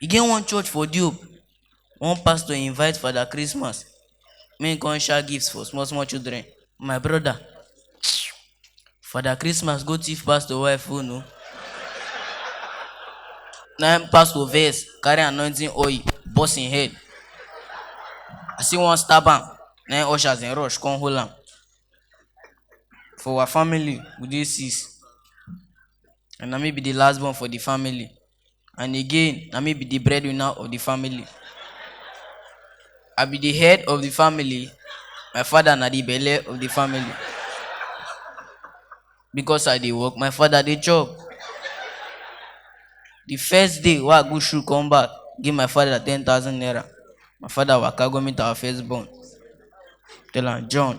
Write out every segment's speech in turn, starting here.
e get one church for diob one pastor invite father christmas make he come share gifts for small small children my brother father christmas go thief pastor wife phone o na him pastor vex carry anointing oil burst him head as he wan stab am na him ushers dem rush come hold am for our family we dey six and na me be the last born for the family and again na me be the breadwinner of the family i be the head of the family my father na the belle of the family because i dey work my father dey chop the first day wey i go shoe come back give my father ten thousand naira my father waka go meet our first born tell am john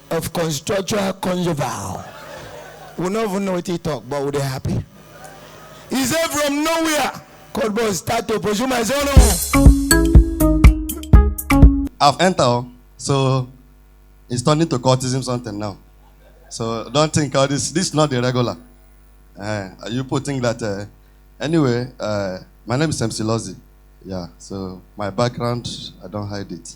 of constitutional conjugal we no even know wetin he talk but we dey happy he say from nowhere cold boy start to pursue my son o. I've entered, oh, so it's turning to cultism something now. So don't think all this. This is not the regular. Uh, you people think that. Uh, anyway, uh, my name is MC Lozzy. Yeah. So my background, I don't hide it.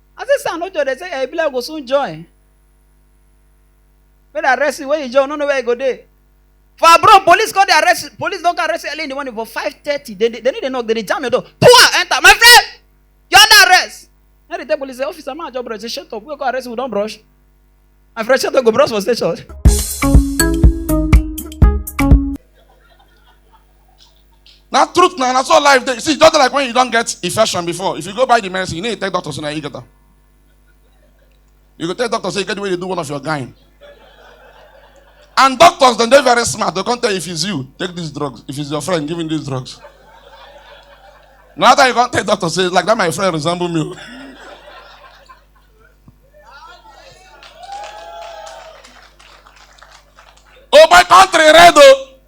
I say sir, no joy. They say, yeah, e be like we go soon join. Make dem arrest you when you join, no know where you go dey. For abroad, police come dey arrest you. Police don come arrest you early in the morning for five thirty. They dey they no dey knock, they dey jam your door. Poor enter, my friend. You under arrest. Now they tell police say, officer, man, job brush. They shut up. We go arrest you, we don brush. My friend, shut up, go brush for station. na truth na na so life dey see just like when you don get infection before if you go buy the medicine you need to tell doctor say na you get am you go tell doctor say you get the way you do one of your gyne and doctors dem dey very smart dey come tell you if it's you take these drugs if it's your friend give him these drugs na after you come tell doctor say like that my friend resemble me o. oh my country red o. Oh.